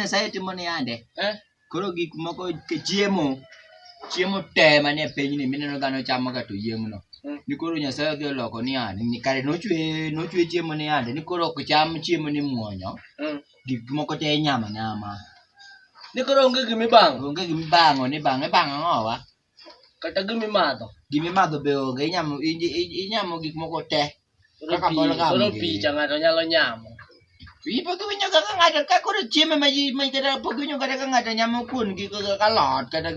Nyasaye timo ni yande eh? koro gik moko chiemo chiemo te manie pinyni mineno dhano chamo ga to yieng'no eh. ni koro Nyasaye odhi oloko ni yande kare nochwe nochwe chiemo ni yande ni koro ok cham chiemo ni muonyo eh. gik moko te inyama nyama ni koro onge gimi bang' onge gimi bang'o ni bang' ibang' ang'o wa kata gimi madho gimi madho be onge inyamo inyamo gik moko te kaka bol ga koro picha ng'ato nyalo nyamo Ipo ka winyo kaka ng'ato ka koro chiemo ma ma kata pok winyo kata ka ng'ato nyamo kuon gi ka lot kata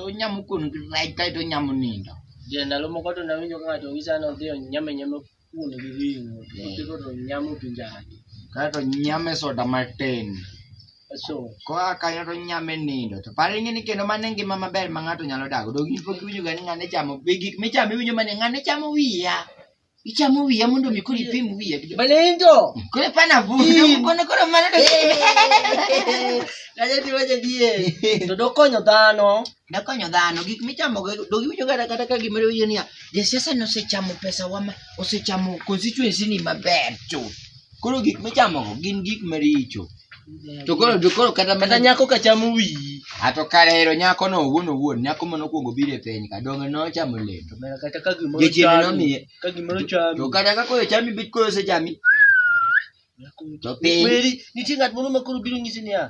onyamo kuon gi rech kae to onyamo nindo. Je, ndalo moko to nawinjo ka ng'ato ng'isa ni odhi onyame nyame kuon gi ring'o kotego to nyamo pi njagi kaeto nyame soda matin so koa kanyo to nyame nindo to par ing'e ni kendo mano e ngima maber ma ng'ato nyalo dago dog in pok iwinjoga ni ng'ane chamo be gik michamo iwinjo mane ng'ane chamo wiya ichamo wiya mondo mi koro ipim wiya gi malindo koro ipana vudo kono koro mano to kaja tiwaja die to dokonyo dhano dakonyo dhano gik michamo do giwinjo kata kata ka gimoro winjo niya jasiasa ni osechamo pesa wa osechamo constituency ni maber to koro gik michamo go gin gik maricho to koro to koro kata mana nyako ka chamo wiyi ato karero nyako no owuon owuon nyako mano kuongo bire piny ka donge no chamo le to kata ka gimoro chamo ka gimoro chamo to kata ka koyo chami bit koyo se chami to piny nitie ng'at moro ma koro biro nyisi niya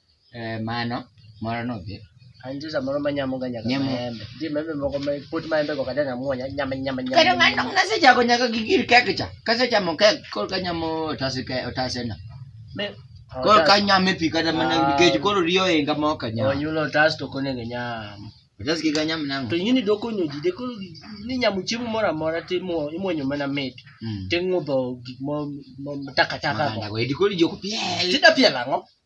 Eh, mano moro nodhi An nitie samoro manyamoga nyaka Nyamo. maembe. Nitie maembe moko ma pot maembe go kata nyamo nya- nyama nyama nyama. kendo ng'ano nasechako nyaka gi gir kek cha kasechamo kek koro kanyamo otase ke otase na Me- koro kanyame pi kata mana Ah. nikech koro riyo inga ma ok Oh, anyam yulo tas to konego nyam. otas kik anyam nang'o To ing'e ni doko onyo ji, deko ni nyamo chiemo moro amora to imuo- imuonyo mana mit. Mm. To ing'udho gik mo- mo- takataka go. Maganda go edi koro ijoko piel Tida piel ang'o?